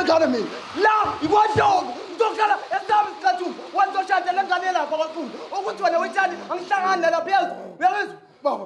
ngizokhala mina la ikwadloko ngizokhala esami sikhathuni wanizoshada le ngane yelapha kwakhulu ukuthi wena wetshani angihlangani nalapha yezo uyakuzwa baba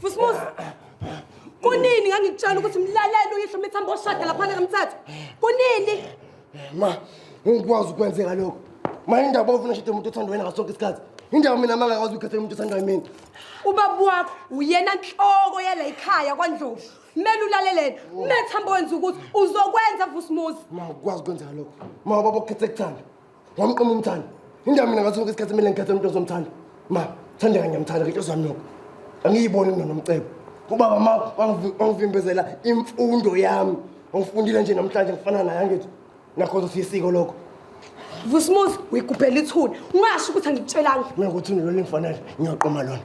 Fusmus. Kunini ngangikutshela ukuthi mlalele uyihlo mithambo oshada lapha kamthatha. Kunini? Ma, ngikwazi ukwenzeka lokho. Ma indaba ofuna shade umuntu othanda wena ngasonke isikhathi. Indaba mina mangakwazi ukukhetha umuntu othanda mina. Ubaba wakho uyena nhloko yala ikhaya kwaNdlovu. Kumele ulalelene. Methamba wenza ukuthi uzokwenza Fusmus. Ma, ngikwazi ukwenzeka lokho. Ma, baba ukhethe kuthanda. Wamqoma umthanda. Indawo mina ngathi sonke isikhathi mina ngikhethe umuntu ozomthanda. Ma, thanda kanye ngiyamthanda ke intosi yami nokho. Angiyiboni mina nomcebo. Ubaba ma wangivimbezela imfundo yami. Ngifundile nje namhlanje ngifana naye angithi. Nakho sisiko lokho. Vusimuzi uyiguphela ithuna. Ungasho ukuthi angikutshelanga. Mina ukuthi lona lingifanele ngiyaqoma lona.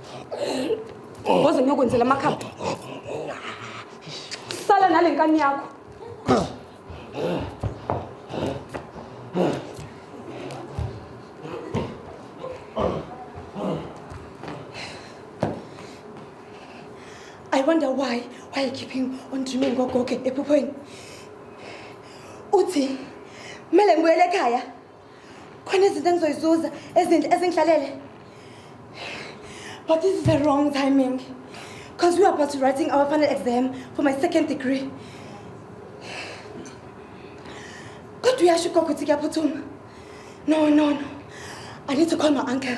Ngoze ngiyokwenzela amakhamba. Sala nalenkani yakho. I wonder why why you keeping on dreaming ngogogo ephuphweni. Uthi mele ngibuyele ekhaya. khona izinto engizoyizuza ezinhle ezingihlalele but this is the wrong timing because we are about to writing our final exam for my second degree kodwa uyasho ugogo ukuthi kuyaphuthuma no no no i need to call my uncle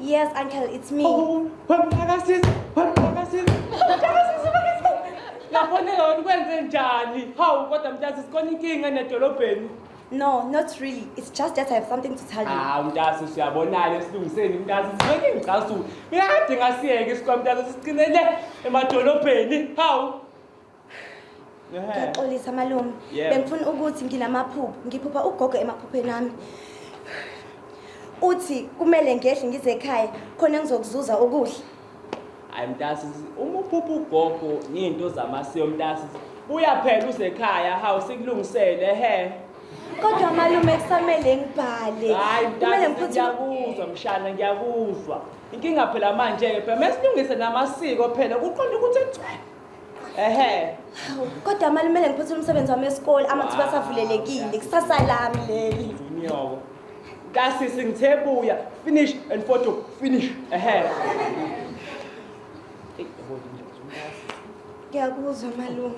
Yes, uncle, it's me. Oh, wemphakasisi, wemphakasisi. Yafonela wena ukwenze njani? Hawu kodwa mntazisi kona inkinga nedolobheni. No, not really. It's just that I have something to tell you. Hawu mntazisi siyabonana esilungiseni mntazisi. Ngeke ngicasuke. Uyakade ngasiyeke isikwamntazisi siqinele emadolobheni. Hawu. ngiyaxolisa malume bengifuna ukuthi nginamaphupho ngiphupha ugogo emaphupheni ami uthi kumele ngehle ngize ekhaya khona ngizokuzuza ukudla hayi mntasi uma uphupha ugogo ngiyinto zamasiko mntasi buya phela uzekhaya hawu sikulungisele he kodwa malume kusamele ngibhale kumele ngiphutheyakuzwa mshana ngiyakuzwa inkinga phela manje-ke phela mesilungise namasiko phela kuqonda ukuthi kugcwele Ehhe. Hawu, kodwa mali kumele ngiphuthule umsebenzi wami wesikole amathuba asavulelekile kusasa lami leli Inyoko. Kasisi ngithe buya. Finish and photo. Finish. Ehhe. Ey, yabo nje, ngiyakuzwa malume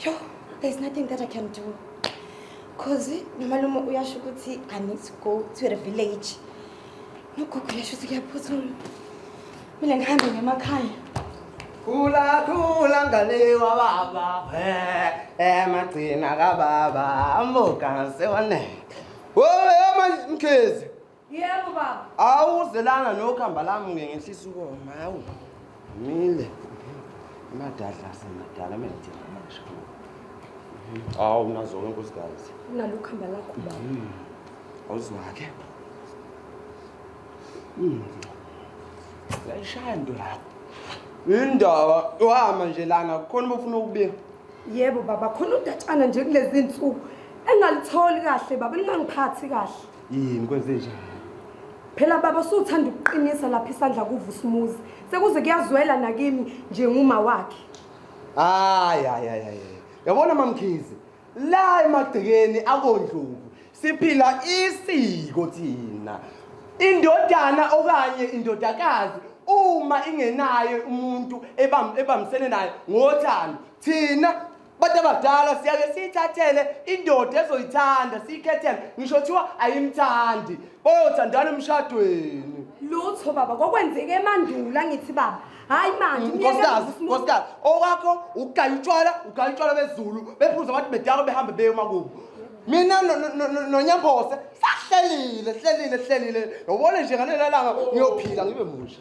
yo there's nothing that i can do cause nomalume uyasho ukuthi i need to go to the village Nokugugula shuthi kuyaphuthuma. Mina ngihambe ngemakhaya. Khula khula ngane wababa. Eh, eh magcina kababa. Amuka sewane. Wowe manje mkhezi. Yebo baba. Awuzelana nokhamba lami ngenhlisa ukoma. Hawu. Mile. Madadla semadala menze amasha. Awu nazo ke nkosikazi. Unalokho hamba lakho baba. Hmm. Awuzwa ke. Mm. Yayishaya into yakho. Indaba wama nje lana kukhona ubufuna ukubika. Yebo baba khona udatshana nje kulezi insuku engalitholi kahle baba lingangiphathi kahle. yini kwenze njani phela baba usuthanda ukuqinisa lapha isandla kuvusumuzi sekuze kuyazwela nakimi njenguma wakhe hayi hayi hayi hayi yabona mamkhizi la emagcekeni akondluku siphila isiko thina indodana okanye indodakazi uma ingenayo umuntu ebam ebambisene naye ngothando thina Abantu abadala siyake siyithathele indoda ezoyithanda siyikhethele ngisho kuthiwa ayimthandi bayothandana emshadweni. Lutho baba kwakwenzeke emandula ngithi baba. Hayi manje Mm, umyeke Nkosikazi, uvusa umuntu. nkosikazi, owakho ukugaya utshwala, ugaya utshwala bezulu, bephuza abantu bedakwe behambe beye emakubo. Mina no- no- no- nonyambose sahlelile, hlelile, hlelile. Yobona nje ngalelanga ngiyophila ngibe musha.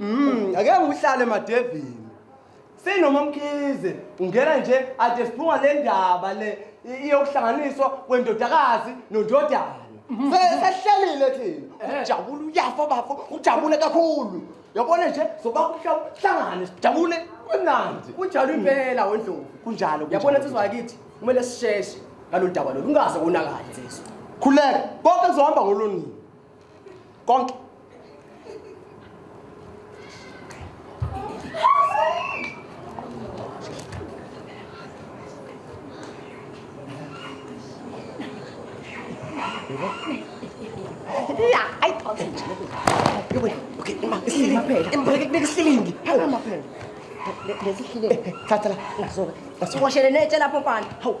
Mm, ake ngihlale madevini. Sinoma mkhize ungena nje ade siphuma le ndaba le i- iyokuhlanganiswa kwendodakazi nondodana. Sehlalile thina. Ujabula uyafa bafo, ujabule kakhulu. Yabona nje soba kuhlangane sijabule kumnandi. Kunjalo impela wendlovu. Kunjalo. Yabona insizwa yakithi kumele sisheshe ngalolu daba lolu ungaze konakale insizwa. Khuleka, konke kuzohamba ngolonini. konke nesilingi thatha la washelene etshe lapho mfana hawu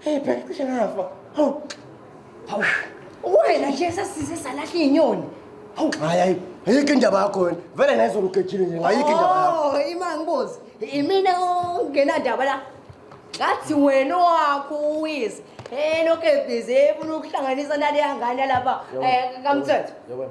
Hey phela cishe ngafa. Hawu. Hawu. Wena nje sasize salahla inyoni. Hawu. Hayi hayi. Ayikho indaba yakho wena. Vele nayizolo ugejile nje. Ayikho indaba yakho. Oh, ima ngibuze. Imina ongenandaba la. Ngathi wena wakho uwizi. Eh lokho ebhizi efuna ukuhlanganisa nale yangane lapha. Eh kamthetho. Yabona.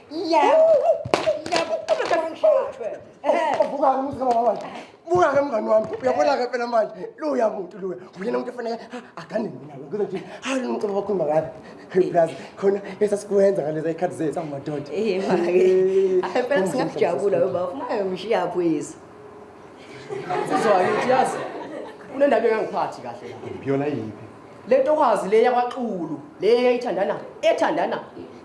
Yebo. Yebo. Ngishaqwe. Uvuka umuzi kamama wami. Buka ke mngani wami. Uyabona ke phela manje. Luya muntu luya. Uyena umuntu efanele agane mina. Kuze nje hayi umculo wakho makazi. Plus khona esasikwenza ngalezi ikhathi zethu amadoda. Eh manje. Phela singakujabula ngoba ufuna ngishiya phwezi. Nsizwa yakithi yazi kunendaba engangiphathi kahle la. Yona yiphi? Le ntokazi le yakwaXulu le eyayithandana ethandana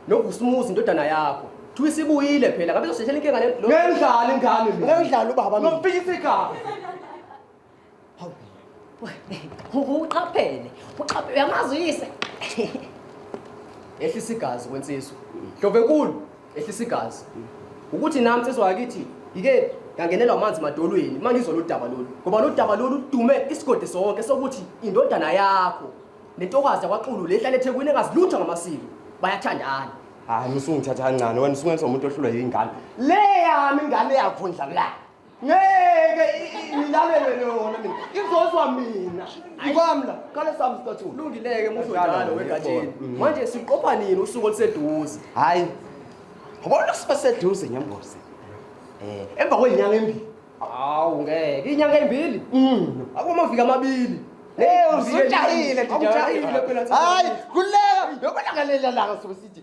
noVusumuzi indodana yakho. Kuthiwa isibuyile phela ngabe izosheshela inkinga le lo. Ngiyayidlala ingane mina. Ngiyayidlala ubaba mina. Ngomfika isigaba. uqaphele uqaphele uyamazi uyise ehlisa igazi kwensizwa hlove nkulu ehlisa igazi ukuthi nami nsizwa yakithi yike ngangenelwa amanzi madolweni uma ngizwa lolu daba lolu ngoba lolu daba lolu ludume isigodi sonke sokuthi indodana yakho nentokazi yakwaxulu le hlale ethekwini engazi lutho ngamasiko bayathandana hayi usungithatha kancane wena usungenza umuntu ohlulwa yingane le yami ingane yakho ndlamlani ngeke ngilalele lona mina izozwa mina ikwami la kale sami sithathu ulungileke musho njalo wegatsheni mm. manje siqopha nini usuku oluseduze hayi ngibona siba seduze ngembozi eh emva kwenyanga embili hawu ngeke inyanga embili mm. akumavika amabili Hey, uzujahile, uzujahile phela. Hayi, kuleka, yokulangalela langa sokusithi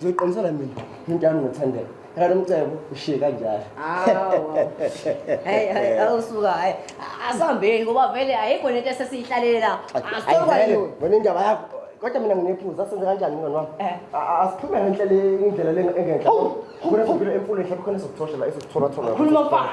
Ngizoqinisela mina into yami ngothandela. Kanti umcebo ushiye kanjalo. Hey hey awusuka hayi asambeni ngoba vele ayikho lento esesiyihlalele la. Asithoka yona. Wena indaba yakho kodwa mina nginephuza senze kanjani mngani wami? Eh. Asiphume ngenhlela indlela lengenhla. Khona sibile emfuleni mhlawumbe khona sokuthoshela esokuthola thola. Khuluma mfana.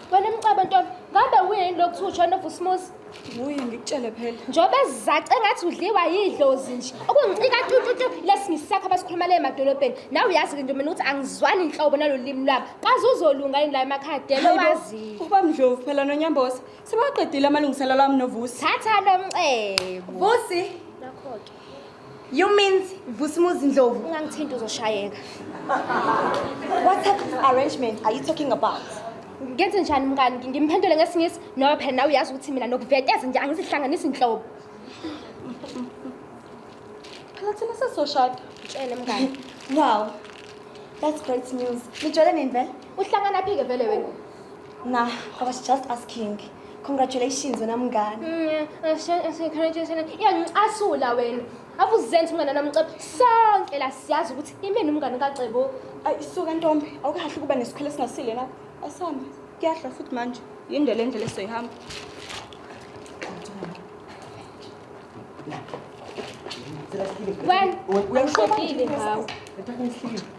Wena mcaba ntombi, ngabe wuye yini lokuthiwa uJohn of Usmuzi? Wuye ngikutshele phela. Njengoba ezizace ngathi udliwa yidlozi nje. Okungicika tututu lesi ngisakho abasikhuluma le emadolobheni. Nawe uyazi ke ntombi ukuthi angizwani inhlobo nalolimi lwabo. Kaze uzolunga yini la emakhaya dela wazi. Uba mdlovu phela nonyambosa. Sebaqedile amalungiselelo ami novusi. Thatha lo mcebo. Vusi. Nakho ke. You means Vusimuzi Ndlovu ungangithinta uzoshayeka. What type of arrangement are you talking about? Ngenze njani mngani ngimphendule ngesingisi noma phela nawe uyazi ukuthi mina nokuveteza nje angizihlanganisi inhlobo. Phela thina sesoshada. Tshele mngani. Wow. That's great news. Nijole nini vele? Uhlangana phi ke vele wena? Nah, I was just asking. Congratulations wena mngani. Mm, yeah, ngicasula wena. Abuzenza umngane namcebo. Sonke la siyazi ukuthi imini umngane kacebo. Ayisuka ntombi, awukahle ukuba nesikhwele esingasile lapho. Asambe. Kuyadla futhi manje. Yinde le ndlela esoyihamba. Well, uyakushobile ngawo.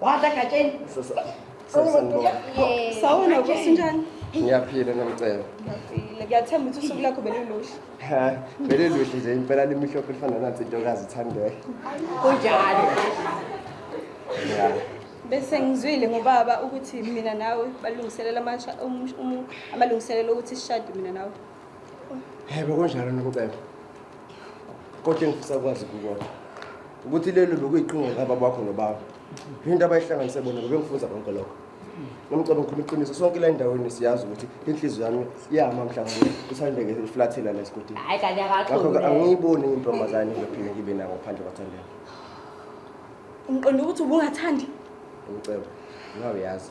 Wadla gatsheni. Sawona kusinjani? Ngiyaphila nomcebo. Ngiyaphila. Ngiyathemba ukuthi usuku lakho beliluhle. Ha, beliluhle nje impela limhlophe lifana nathi intokazi ithandeke. Kunjalo. Yeah. Bese ngizwile ngobaba ukuthi mina nawe balungiselela amalungiselelo ukuthi sishade mina nawe. Yebo kunjalo nomcebo. Kodwa engifisa kwazi kukodwa ukuthi lelo bekuyiqhinga laba bakho nobaba. Into abayihlanganise bona bebengifunza konke lokho. Nomcebo ngikhuluma iqiniso sonke la endaweni siyazi ukuthi inhliziyo yami iyama mhlawumbe uthandeke iflathela la esigodini. Hayi kanye akaqhubeke. Ngakho ke angiyiboni intombazane ngiphinde ngibe nayo ngaphandle kwathandela. Ngiqonda ukuthi ubungathandi. Umcebo. Ngawe yazi.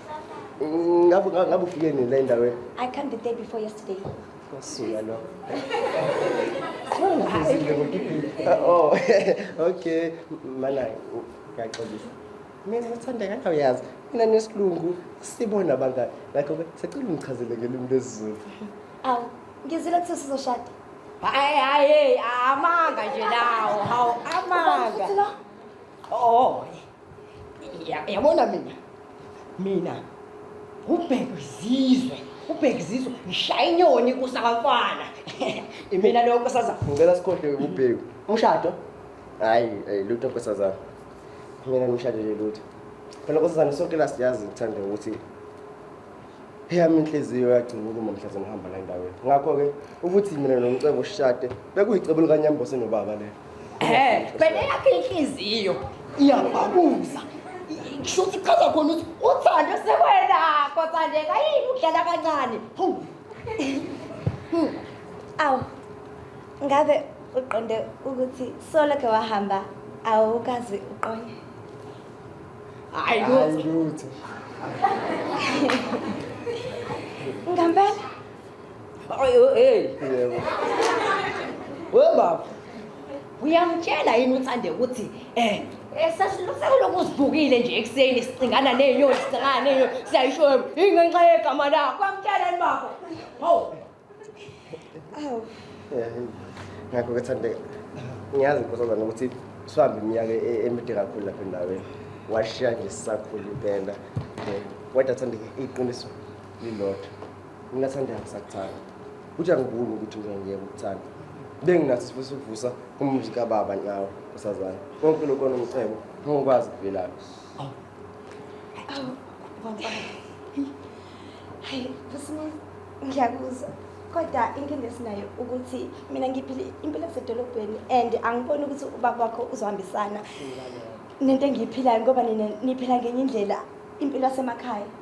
Mm, ngabe ngabe ngabe ufike nini la endaweni? I can't be there before yesterday. Ngasuka lo. Ngizile ngokiphi. Oh, okay. Mana ngiyaxolisa. Mina ngithanda kanti uyazi. Mina nesilungu sibona abangani. Ngakho ke sicela ungichazele ngelimi lesiZulu. Aw, ngizile kuthi sizoshada. Hayi hayi amanga nje lawo. Hawu amanga. Oh. Ya- yabona mina mina ubheka izizwe ubheka izizwe ngishaya inyoni kusabafana imina leyo nkosazana ngicela sikhohlwe ubheku umshado hayi eh, lutho nkosazana mina ngimshadele lutho phela nkosazana sonke la siyazi ngithanda ukuthi eyami inhliziyo yagcina ukuma mhlaze ngihamba la endaweni ngakho-ke ukuthi mina nomcebo sishade bekuyicebo likanyambose nobaba lelo Eh, wena yakhe inhliziyo iyababuza. Kushuthi chaza khona ukuthi uthando sekwena kothandeka yini ukudlala kancane. Hawu. Hmm. Awu. Ngabe uqonde ukuthi solo ke wahamba awukazi uqonye. Hayi lutho. Ngambela. Ay, oh, hey. Yebo. We baba. Uyamtshela yini uthande ukuthi eh esasilokuzivukile nje ekuseni sicingana nenyoni sicingana nenyoni siyayisho ingenxa yegama lakho kwamtshela yini baba hawu awu ngakho ke thande ngiyazi nkosazana ukuthi sihambe iminyaka e-, emide kakhulu lapha endaweni washiya nje sisakhulu impela um kodwa thande iqiniso lilodwa Ngingathanda ngisakuthanda. Uthi angibuni ukuthi ngiyeke ukuthanda. Benginathi sifusa ukuvusa umuzi kababa nawe usazana. Konke lokho nomcebo ngokwazi kuvelaphi. Awu. Awu. Baba. Hayi, kusimo ngiyakuzwa. kodwa inkinga esinayo ukuthi mina ngiphile impilo yasedolobheni and angiboni ukuthi ubaba wakho uzohambisana nento engiyiphilayo ngoba nina niphila ngenye indlela impilo yasemakhaya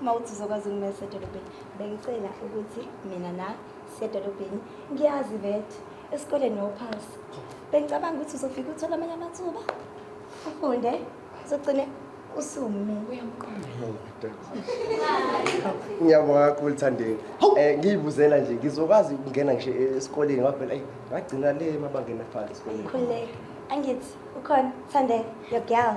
uma uthi uzokwazi ukumela sedolobheni bengicela ukuthi mina na sedolobheni ngiyazi bet esikoleni nophasi bengicabanga ukuthi uzofika uthole amanye amathuba ufunde uzogcine usume ngiyabonga kakhulu thandeni um eh, ngiyibuzela nje ngizokwazi ukungena ngisho esikoleni ngoba phela ngagcina le mabangena phansi esikoleni angithi ukhona thandeni your girl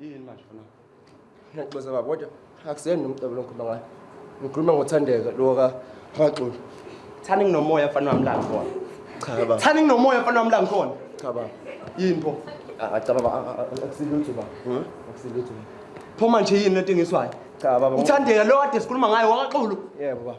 yini manje fana ngiyaxoza baba kodwa akuseni nomcebo longikhuluma ngayo ngikhuluma ngothandeka lo ka Haxulu thani nginomoya mfana wami la ngikhona cha baba thani nginomoya mfana wami la ngikhona cha baba yini pho acaba baba akusilutho baba hmm? akusilutho pho manje yini lento engiswayo cha baba uthandeka lo kade sikhuluma ngayo wakaxulu yebo baba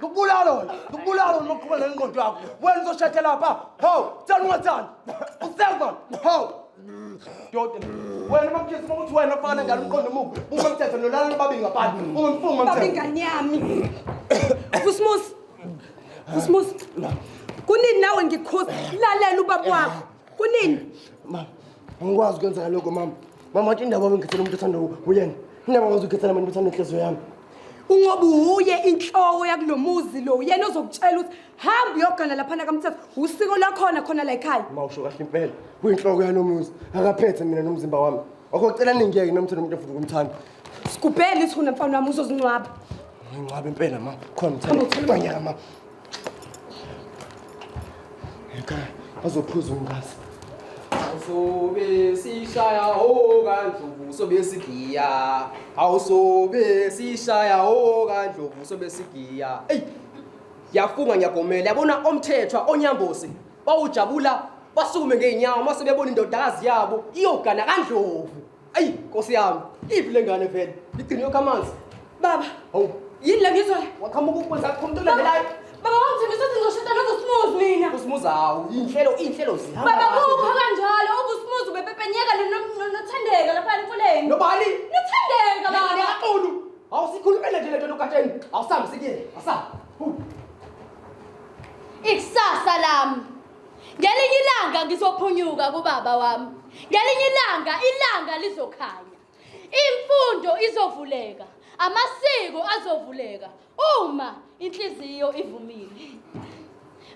ngikubulala wena ngikubulala wena maqhuba nenqondo yakho wena uzoshade lapha hawu thanda ungathandi usekwa hawu doda wena mamthetho uma kuthi wena fana njalo umqondo omubi uma mthetho nolala nobabili ngaphandle ungimfunga mthetho babingane yami kusmusi kusmusi kunini nawe ngikhuza lalela ubaba wakho kunini mama angikwazi ukwenza lokho mama mama wathi indaba bengikhethela umuntu othanda uyena indaba ngwazi ukhethela mani uthanda inhliziyo yami ungoba uye inhloko yakulo muzi lo uyena ozokutshela ukuthi hamba uyogana laphana kamthetho usiko lakhona khona la ekhaya uma usho kahle impela kuyinhloko yalo muzi akaphethe mina nomzimba wami okocela ningiyeke nomthetho umuntu ofuthi kumthanda sigubhele ithuna mfana wami uzozingcwaba ngingcwaba impela ma khona mthanda manyaka ma Ekhaya bazophuza umngazi. Awusobe sishaya ho kandlovu sobe sigiya. Awusobe sishaya ho kandlovu sobe sigiya. Ey! Yafunga ngiyagomela yabona omthethwa onyambosi bawujabula basukume ngeenyawo mase bebona indodakazi yabo iyogana kandlovu. ayi nkosi yami iphi le ngane vele igcine yokho amanzi baba hawu yini le ngizwa waqhamuka ukwenza kho umuntu olandelayo baba wangithembisa ukuthi ngizoshada nozosimuzi mina usimuzi hawu iy'nhlelo iy'nhlelo zihamba baba kahle. kukho kanjalo okusimuzi ubepepenyeka nothandeka lapha emfuleni nobani nothandeka baba nekaxulu awusikhulumele nje le nto logatsheni awusambi sikile awusambi ikusasa lami Ngelinye ilanga ngizophunyuka kubaba wami. Ngelinye ilanga ilanga lizokhanya. Imfundo izovuleka, amasiko azovuleka uma inhliziyo ivumile.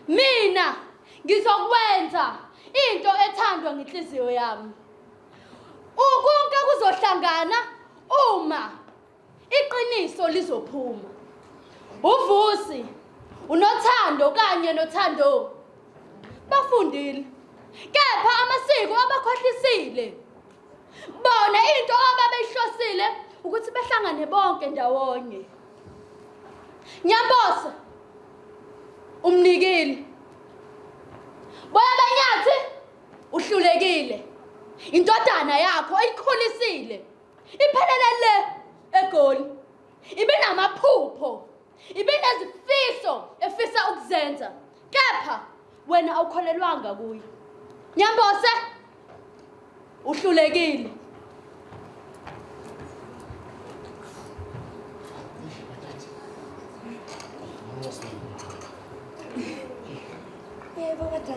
Mina ngizokwenza into ethandwa ngenhliziyo yami. Ukonke kuzohlangana uma Iqiniso lizophuma. Uvusi, unothando kanye nothando bafundile kepha amasiko abakhohlisile. Bona into ababeyihlosile ukuthi behlangane bonke ndawonye. Nyabosa umnikile. Boya banyathi uhlulekile. Indodana yakho oyikhulisile Iphelele le eGoli. Ibinamaphupho. Ibinezifiso efisa ukuzenza. Kepha wena awukholelwanga kuye. Nyambose uhlulekile. Yebo kodwa